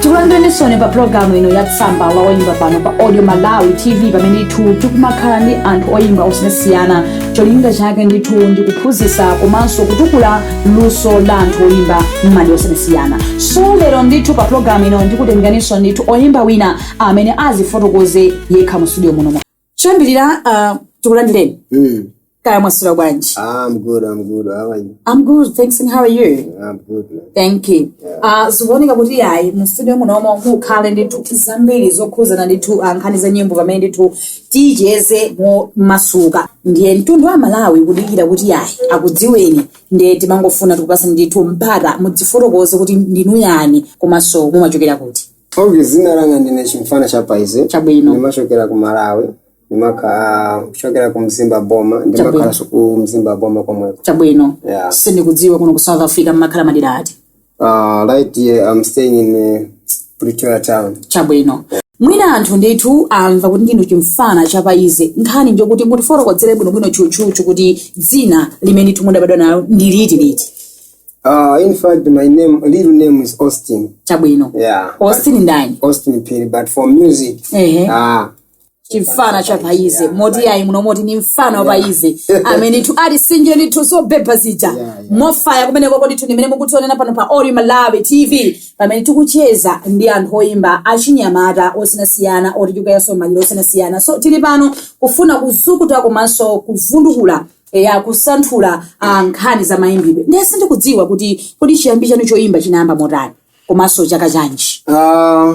tikulandireninso pa pulogalamu ino ya tsamba la oyimba pano pa audio malawi tv pamene ndithu tikumakhala ndi anthu oyimba osiyanasiyana cholinga chake ndithu ndi kuphunzitsa komanso kutukula luso la anthu oyimba m'madera osiyanasiyana so lero ndithu pa pulogalamu ino ndikutengeraninso ndithu oyimba wina amene azifotokoze yekha mu studio muno choyambirira uh, tikulandireni Mm. kaya mwasula bwanji I'm good, I'm good. How are you? I'm good, thanks and how are you? I'm good, man. Thank you. Uh, zikuoneka kuti ayi mu studio muno omwe mukhale ndithu zambiri zokhuzana ndithu uh, nkhani za nyimbo pamene ndithu ticheze momasuka ndiye mtundu wa malawi kudikira kuti yayi akudziweni ndiye timangofuna tikupatseni ndithu mpata mudzifotokoze kuti ndinu ndani komanso mumachokera kuti ok zina langa ndine chimfana cha paize Chabwino. ndimachokera ku malawi ndimakhala kuchokera ku mzimba boma ndimakhalanso ku mzimba boma komweko chabwino Yeah. sindikudziwa kuno ku south africa mmakhala madera ati Uh, right here, I'm staying in uh, Pretoria town. chabwino mwina anthu ndithu amva kuti ndinu chimfana cha paize nkhani njokuti mutifotokozere bwinobwino tchutchutchu kuti dzina limene ndithu mudabadwa nalo ndi litiliti Uh, in fact, my name, real name is Austin. chabwino Yeah. austin ndani Austin Phiri, but for music, Ehe. uh, chimfana cha paize moti yayi muno moti ni mfana wa paize amene ndithu ali sinje ndithu zobhebha zija mofaya kumene koko ndithu ndimene mukutionera pano pa audio malawi tv pamene tikucheza ndi anthu oyimba achinyamata osiyanasiyana oti tikukweza maluso osiyanasiyana so tili pano kufuna kuzukuta komanso kuvundukula eya kusanthula ah, nkhani za mayimbidwe ndiye sindikudziwa kuti kodi chiyambi chanu choyimba chinayamba motani komanso chaka chanji Ah,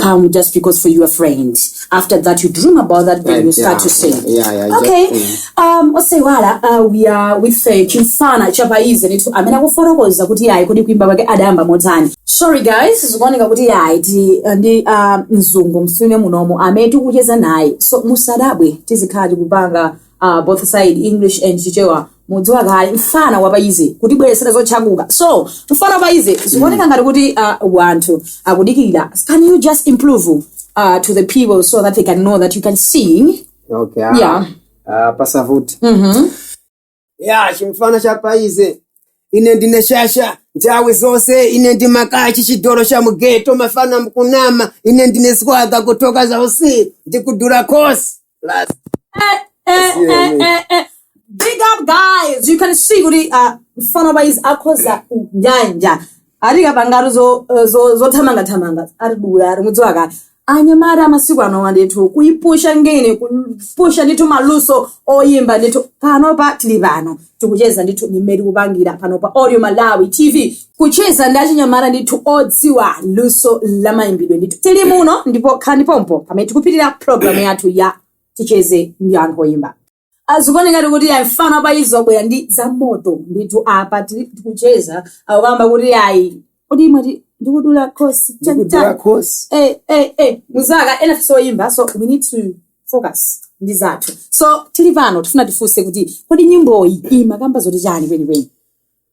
come just because for your friends. After that, you dream about that, then you start yeah, to sing. Yeah, yeah, yeah okay. Just, mm. um, osaiwala uh, we are with uh, chimfana cha paize ndithu amene akufotokoza kuti yayi kodi kuimba kwake adayamba motani sorry guys zikuoneka kuti yayi ti uh, ndi uh, mzungu msune munomo amene tikucheza naye so musadabwe tizikhala tikupanga uh, both side english and chichewa mukudziwa kale mfana wapaize kutibweresera zotchakuka so mfana wapaize zikuoneka ngati kuti uh, wanthu akudikirira can you just improve uh, to the people so that they can know that you can sing okay ah, Yeah. ah, pasavuti ya chimfana cha paize ine ndine shasha nthawi zonse ine ndimakachi chidolo cha mugeto mafana mukunama ine ndine swaga kutoka za usi ndikudula kosi Last. Eh, eh, Sio eh, mimi. eh, eh. Big up guys. You can see kuti uh, mfana wa paize akhoza nyanja. ati kapangatu zo- zo- zothamangathamanga ati dula ati mudziwa kale anyamata amasiku anowa ndithu kuipusha ngene kupusha ndithu maluso oyimba ndithu panopa tili pano tikucheza ndithu m'mene tikupangira panopa audio malawi tv kucheza ndi achinyamata ndithu odziwa luso la mayimbidwe ndithu tili muno ndipo khalani pompo pamene tikupitiriza programu yathu ya ticheze ndi anthu oyimba azikuone ngati kuti ayi mfana apa izi wabwera ndi za moto ndithu apa tili- tikucheza akukamba kuti ayi kodi imati ndikudula khosi ndikudula chachitali khosi eh, eh, eh, muzaka ena tisoyimba so we need to focus ndi zathu so tili pano tifuna tifunse kuti kodi nyimboyi imakamba zoti chani kwenikweni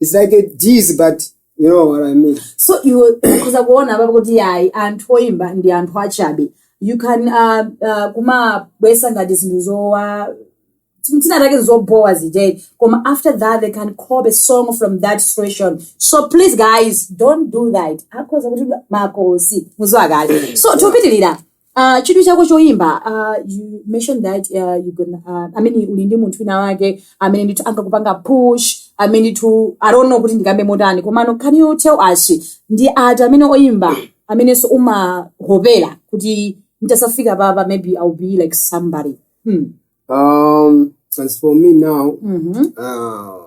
It's like a disease, but you know what I mean. so iwe ukhoza kuona apapo kuti ayi anthu oyimba ndi anthu achabe you can uh, uh, kumabwesa ngati zinthu zoti zinazake zobowa ziteni koma after that they can copy a song from that situation so please guys don't do that akhoza kuti makosi mudziwa kale so tikupitirira Uh, chidwi chako choimba uh, you mentioned that uh, you gonna, uh, I mean, uli ndi munthu wina wake amene ndithu ankakupanga push amene ndithu I don't know kuti ndikambe motani komano can you tell us ndi ati amene oimba amenenso umahopera kuti nditadzafika papa maybe I'll be like somebody hmm. Um, as for me now, mm-hmm. uh,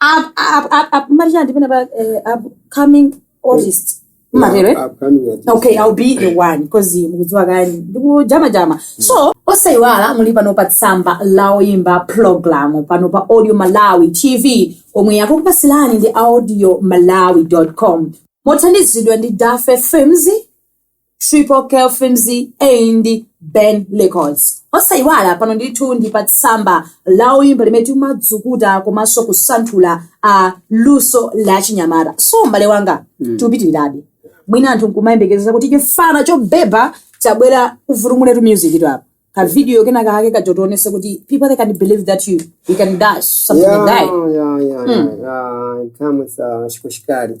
Up- up- up- up- Maria, ndipena pa, eh, upcoming artist matero eh? Upcoming artist. okay i'll be the one because mukudziwa kale ndikujamajama so osayiwala muli pano pa tsamba la oyimba program pano pa audio malawi tv omwe akukupatsirani ndi audio malawi com mothandizidwa ndi dafe films triple k films and ben records osayiwala pano ndithu ndi pa tsamba la oyimba limene timadzukuta komanso kusanthula a luso la chinyamata so m'bale wanga tikupitirirabe mwina anthu nkumayembekezera kuti chifana chobeba chabwera uvutumuletu music to apa ka video kena kake koti ationetse kuti people they can believe that you, you can dash something like that yeah, yeah, yeah, yeah. Kama za shikoshikari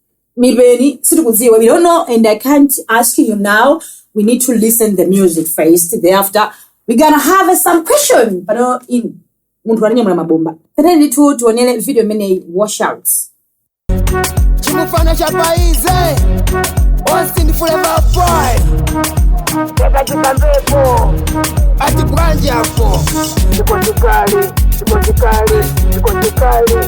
Mipeni, sitikudziwa. I don't know, and I can't ask you now. We need to listen the music first. Thereafter, we gonna have some question. Pano munthu watinyamulira mabomba. Tatiyeni ndithu tionere video imeneyi watch out. chimufana cha paize austin forever boy yakachipambepo ati bwanji apo chikochikali chikochikali chikochikali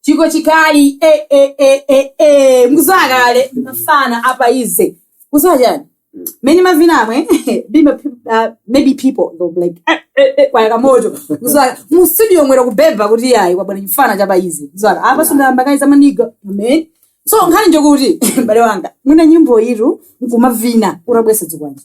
chiko chikali eh, eh, eh, eh, eh. mudziwa kale mfana apa easy kuziwa chani mene mavina mwebe ma- uh, maybe people they'll be like eh, eh, eh, kwayaka moto kuziwa mu studio mwera kubhebha kuti yayi kwabwera chifana chapa easy kuziwa apa sindayamba kayi zamaniga amen so nkhani njokuti mbale wanga mwina nyimbo itu nkumavina unabwesa dzikwanje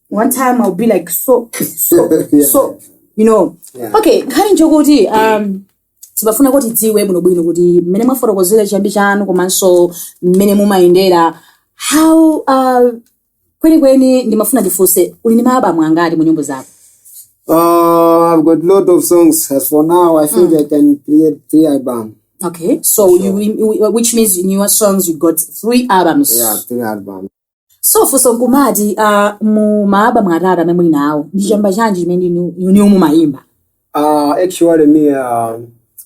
one time I'll be like so so Yeah. so you know Yeah. okay nkhani njokuti um timafuna kuti tidziwe bwinobwino kuti mmene mwafotokozera chiyambi chanu komanso mmene mumayendera how uh, kwenikweni ndimafuna ndifunse uli ndi maalbamu angati mu nyimbo zako Uh, I've got lot of songs. As for now, I think I can create three albums. okay so you, you, which means in your songs you got three albums Yeah, three albums. so funso nkumati uh, mu maalbamu atatu amene muli nawo ndi chamba chanji chimene inu- inu mumayimba Uh, actually, me, uh,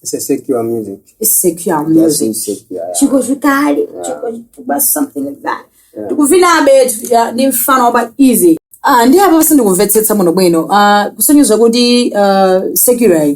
it's a secular music. It's secular Yes, music it's secular. yeah. chiko chikali chiko chituba something like that ndikuvinabe ya, ndi mfana wapa easy ah, ndi apa pasindikumvetsetsa bwinobwino ah, kusonyeza kuti ah, secular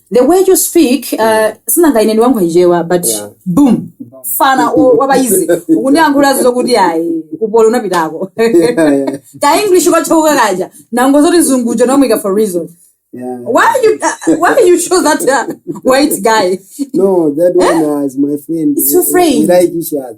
the way you speak uh, sinanga ine ndiwankhwa chichewa but Yeah. boom fana o- wapayizi ukundiyankhula zokuti ayi kupolo unapitako ka english ukachauka kaja nango zoti zungucho nomwika for reason Yeah. why you uh, why you show that uh, white guy No, that one as my friend. It's your We- friend. We like each other.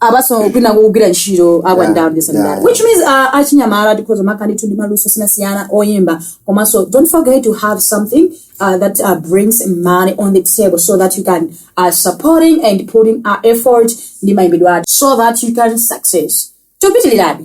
apaso kwina kugwira ntchito up and down this and that Yeah. which means uh, achinyamata tikhoza kumakhala ndithu ndi maluso osiyanasiyana oyimba komanso don't forget to have something uh, that uh, brings money on the table so that you can uh, supporting and putting our effort ndi mayimbidwe athu so that you can success chopitirirabe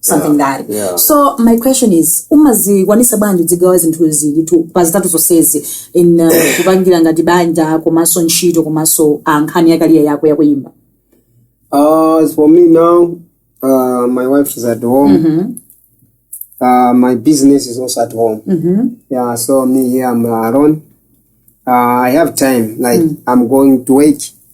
something yeah. that yeah. so my question is umazikwanisa bwanji udzigawa zinthu zili tu pa zitatu zonsezi in uh, kupangira ngati banja komanso ntchito komanso ah, nkhani yakaliya yako yakuyimba Uh, as for me now, uh, my wife is at home. Mm-hmm. Uh, my business is also at home. Mm-hmm. Yeah, so me here, I'm alone. Uh, I have time. Like, I'm going to work.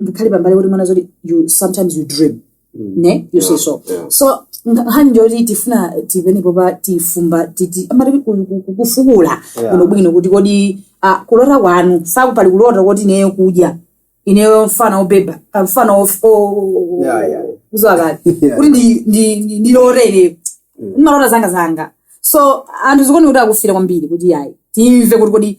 ndikhale pambali kuti mwana zoti you sometimes you dream ne you say so so nkhani nchoti tifuna tipenepo pa tifumba titi amati ku- ku- ku- kufukula bwinobwino kuti kodi ah, kulota kwanu saku pali kulota koti ineyo kuti ineyo mfana obhebha ah, mfana of- o- o- Yeah, yeah. kuziwa kale Yeah. kuti ndi- ndi- ndi- ndilotere ndimalota zanga zanga so anthu zikuoneka kuti akufira kwambiri kuti ayi timve kuti kodi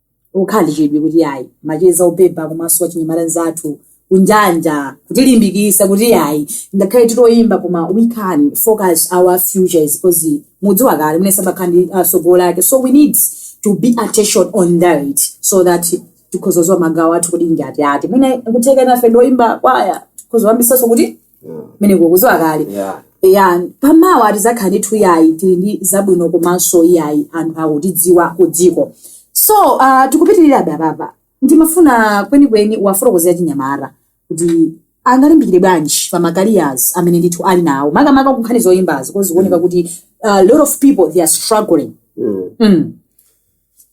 ukhalichidwe kuti yayi macheza obhebha komanso wachinyamata nzathu kunjanja kutilimbikisa kuti yayi ngakhale tikuyimba koma we can focus our futures because mudziwa kale mune sabakha ndi asogolo ake so we need to be attention on that so that tikhoza ziwa magawo athu kuti ndi ati ati mwina kutheka nafe ndi oyimba kwaya tikhoza yambisaso kuti kumeneko kuziwa kale Yeah. ya pamawa tizakhala ndithu yayi tili ndi zabwino komanso iyayi anthu akutidziwa ku dziko so uh, tikupitirirabe apapa ndimafuna kwenikweni uwafotokozere achinyamata kuti angalimbikire bwanji pa ma careers amene ndithu ali nawo makamaka kunkhani zoyimbazi coz zikuoneka kuti uh, lot of people they are struggling Mm. mm.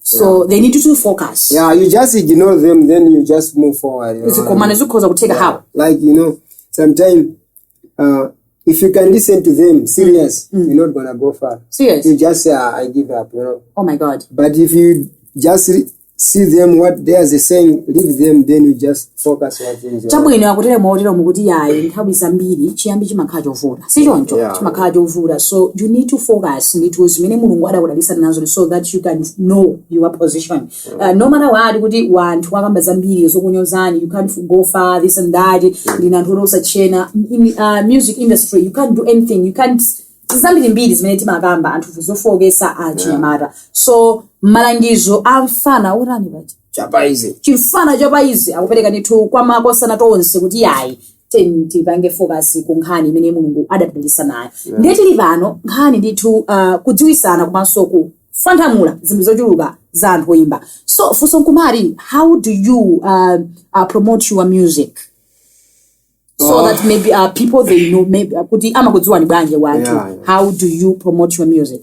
so they need to focus yeah you just ignore them then you just move forward you know what I mean? zikomana zikhoza kutheka how like you know sometimes uh, if you can listen to them serious you're not gonna go far Serious? you just say "Ah, i give up you know oh my god but if you just re- see them what they are saying leave them then you just focus wa zinthu chabwino akutero motero mukuti yayi nthawi zambiri chiyambi chimakhala chovuta si choncho Yeah. chimakhala chovuta so you need to focus ndithu zimene mulungu adakudalitsa nazo so that you can know your position uh, no matter what kuti wanthu wakamba zambiri zokunyozani you can't go far this and that ndina anthu otosa tchena in uh, music industry you can't do anything you can't zambiri mbiri zimene timakamba anthu zofoketsa achinyamata so malangizo a mfana otani paja chapaizi chimfana chapaizi akupereka ndithu kwa makosana tonse kuti yayi tiyeni tipange fokasi ku nkhani imene mulungu adatipangisa nayo ndiye tili pano nkhani ndithu uh, kudziwitsana komanso kufwanthamula zinthu zochuluka za anthu oyimba so funso nkumati how do you uh, uh, promote your music so Oh. that maybe uh, people they know maybe uh, kuti amakudziwani bwanji wanthu Yeah, yeah. how do you promote your music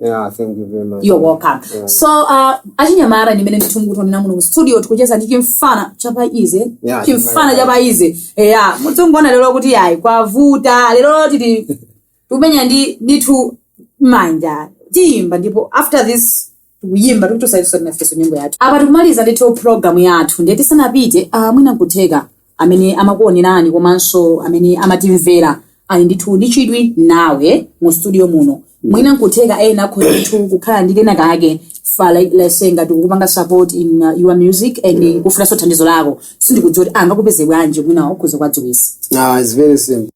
Yeah, thank you very much. you're welcome Yeah. so uh, achinyamata ndimene ndithu mukutiona muno mu studio tikucheza ndi chimfana chapaizi Yeah, chimfana chapaizi eya mudzingoona lero kuti ayi kwavuta lero tili tikumenya ndi ndithu manja tiyimba ndipo after this tikuyimba tikutosaitosatinafeso nyimbo yathu apa tikumaliza ndithu program yathu ndiye tisanapite uh, mwina nkutheka amene amakuonerani komanso amene amatimvera ali ndithu ndi chidwi nawe mu studio muno mwina nkutheka ena akhoza ndithu kukhala ndi kena kake like, let's say ngati kukupanga support in uh, your music and kufunanso thandizo lako sindikudziwa kuti angakupeze bwanji mwina ukhoza kuwadziwitsa Ah, it's very simple.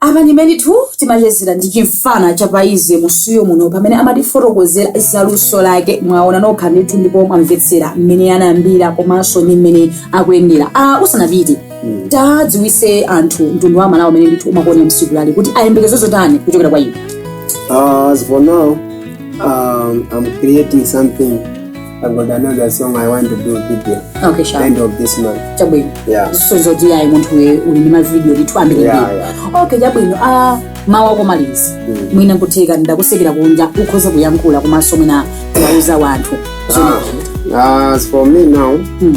apa ndi mmene ndithu timachezera ndi chimfana chapaizi mu studio muno pamene amatifotokozera za luso lake mwaona nokha ndithu ndipo mwamvetsera mmene anayambira komanso ndi mmene akuyendera ah, usanapite tadziwitse anthu mtundu wa malawi umene ndithu umakuonera tsiku lalero kuti ayembekeze zotani kuchokera kwa iwe Uh, as for now, um, I'm creating something I've got another song I want to do video okay sure end of this month. chabwino Yeah. so zoti ayi munthu uyu uli ndi mavidiyo ndithu ambiri Yeah, mbiri yeah. okay chabwino a mawu akomalizi Mm. mwina nkutheka ndakutsekera kunja ukhoza kuyankhula komanso mwina kuwauza wanthu Ah, as for me now, Mm.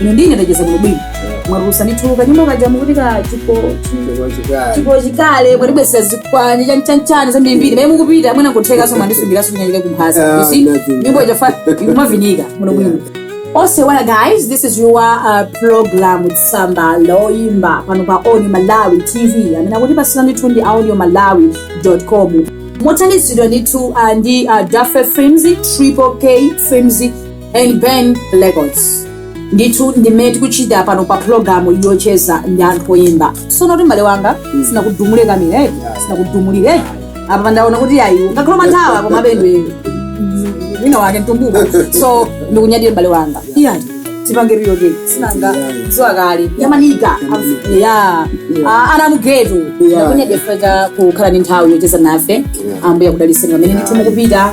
ine ndine ndacheza bwino bwino mwarusa nituluka nyuma kaja mukuti ka chiko chiko chikale mwati besa zikwanje chan chan chan za mbiri mbiri mukupita mwina kutheka so mwandisungira so nyanyika kumphasa you see nyimbo jafa ikumavinika muno bwino Otherwise guys, this is your uh, program with Tsamba Loimba pano pa Audio Malawi TV. Amene akutipatsira ndithu ndi audiomalawi.com. Mothandizidwa ndithu uh, ndi uh, Daffe Films, Triple K Films and Ben Records. ndithu ndimene tikuchita pano pa pulogalamu yocheza ndi anthu oyimba sono kuti mbale wanga sinakudumule kapena sinakudumulire apa pa ndaona kuti ayi ngakhale manthawa koma bendwe wina wake mtumbuko so ndikunyadire mbale wanga iya tipange real day sinanga ziwa kale yamanika ya ana mugeto ndakunyadira chifukwa chokhala ndi nthawi yocheza nafe ambuye akudalitseni pamene ndithu mukupita